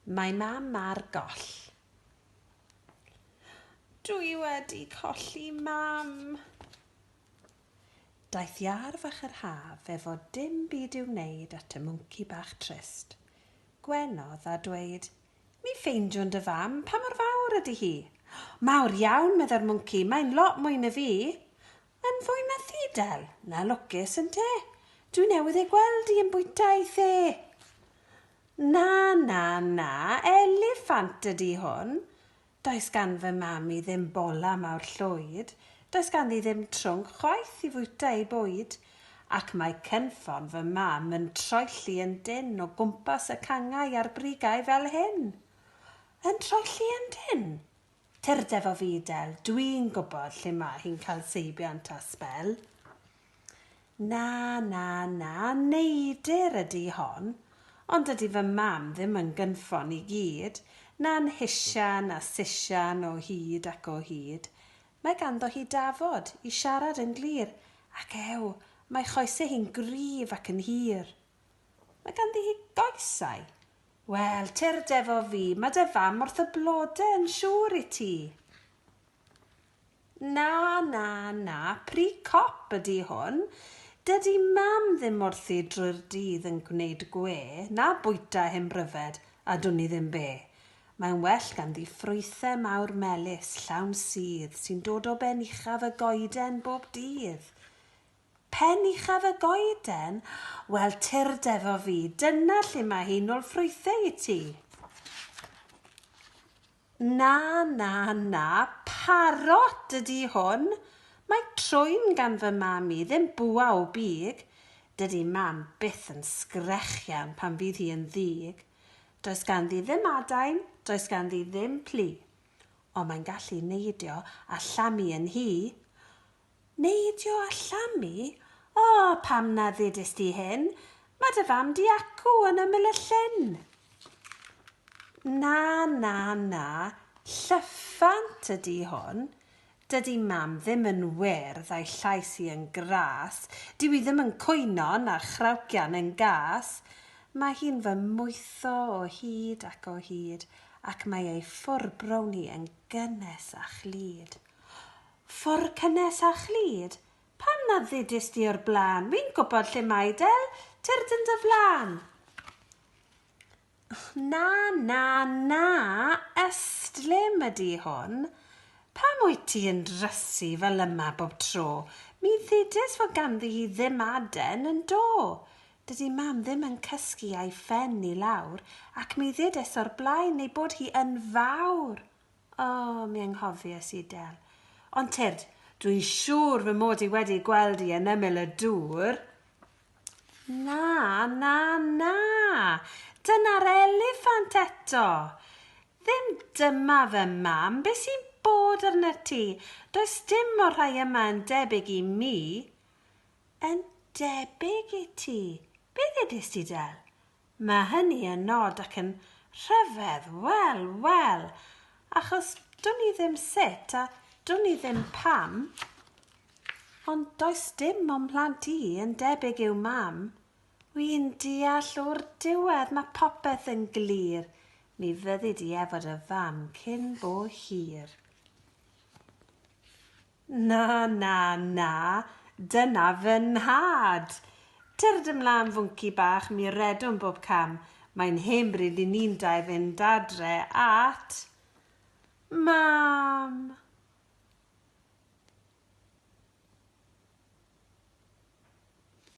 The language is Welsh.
Mae mam ar goll. Dw i wedi colli mam! Daeth iâr fach yr haf efo dim byd i'w wneud at y mwnci bach trist. Gwenodd a dweud, Mi ffeindiwn dy fam, pa mor fawr ydy hi? Mawr iawn, meddai'r mwnci, mae'n lot mwy na fi! Yn fwy methu-dal na lwcus, ynte? Dwi newydd ei gweld hi yn bwyta ei the. Na, na, na, eliffant ydi hwn. Does gan fy mam-i ddim bola mawr llwyd, does ganddi ddim trwnc chwaith i fwyta ei bwyd, ac mae cynffon fy mam yn troelli yn dynn o gwmpas y canghau a'r brigau fel hyn. Yn troelli yn dynn? Turdeb o fudel, dwi'n gwybod lle mae hi'n cael seibiant a sbel. Na, na, na, neidr ydi hon, ond dydi fy mam ddim yn gynffon i gyd, na'n hisian a sisian o hyd ac o hyd. Mae ganddo hi dafod i siarad yn glir, ac ew, mae choesau hi'n gryf ac yn hir. Mae ganddi hi goesau, Wel, tyrd efo fi, mae dy fam wrth y blode yn siŵr i ti. Na, na, na, pri cop ydi hwn. Dydi mam ddim wrthi drwy'r dydd yn gwneud gwe, na bwyta hen bryfed, a dwn i ddim be. Mae'n well ganddi ffrwythau mawr melys, llawn sudd, sy'n dod o ben uchaf y goeden bob dydd. Pen uchaf y goeden? Wel, tyrd efo fi, dyna lle mae hi'n ôl ffrwythau i ti. Na, na, na, parot ydi hwn. Mae trwyn gan fy mam i, ddim bwa o big. Dydi mam byth yn sgrechian pan fydd hi yn ddig. Does ganddi ddim adain, does ganddi ddim plu. Ond mae'n gallu neidio a llamu yn hi. Neidio a llamu? O, pam na ddudist ti hyn? Mae dy fam di acw yn ymyl y llyn. Na, na, na, llyffant ydi hwn. Dydi mam ddim yn wyrdd a'i llais hi yn gras. Dyw hi ddim yn cwyno'n a'r chrawcian yn gas. Mae hi'n fy mwytho o hyd ac o hyd ac mae ei ffwr brown hi yn gynnes a chlyd. Ffordd cynnes a chlyd. Pam na ddudist di o'r blaen? Wi'n gwybod lle mae Del tyrd yn dy flan. Na, na, na, ystlum ydi hwn. Pam wyt ti yn drysu fel yma bob tro? Mi ddudis fod ganddi hi ddim aden yn do. Dydi mam ddim yn cysgu a'i phen i lawr, ac mi ddudis o'r blaen ei bod hi yn fawr. O, mi anghofies i, Del. Ond tyrd, dwi'n siŵr fy mod i wedi gweld di yn ymyl y dŵr. Na, na, na! Dyna'r eliffant eto! Ddim dyma fy mam, be sy'n bod arna ti? Does dim o'r rhai yma yn debyg i mi. Yn debyg i ti? Be ddedist ti, Del? Mae hynny yn nod ac yn rhyfedd, wel, wel, achos dwn i ddim sut a dwn i ddim pam, ond does dim o'm mhlant i yn debyg i'w mam. Wi'n deall o'r diwedd mae popeth yn glir, mi fyddi di efo dy fam cyn bo hir. Na, na, na, dyna fy nhad! Cerdd ymlân fwnci bach, mi redwn bob cam, mae'n hen bryd i ni'n dau fynd adre at Mam!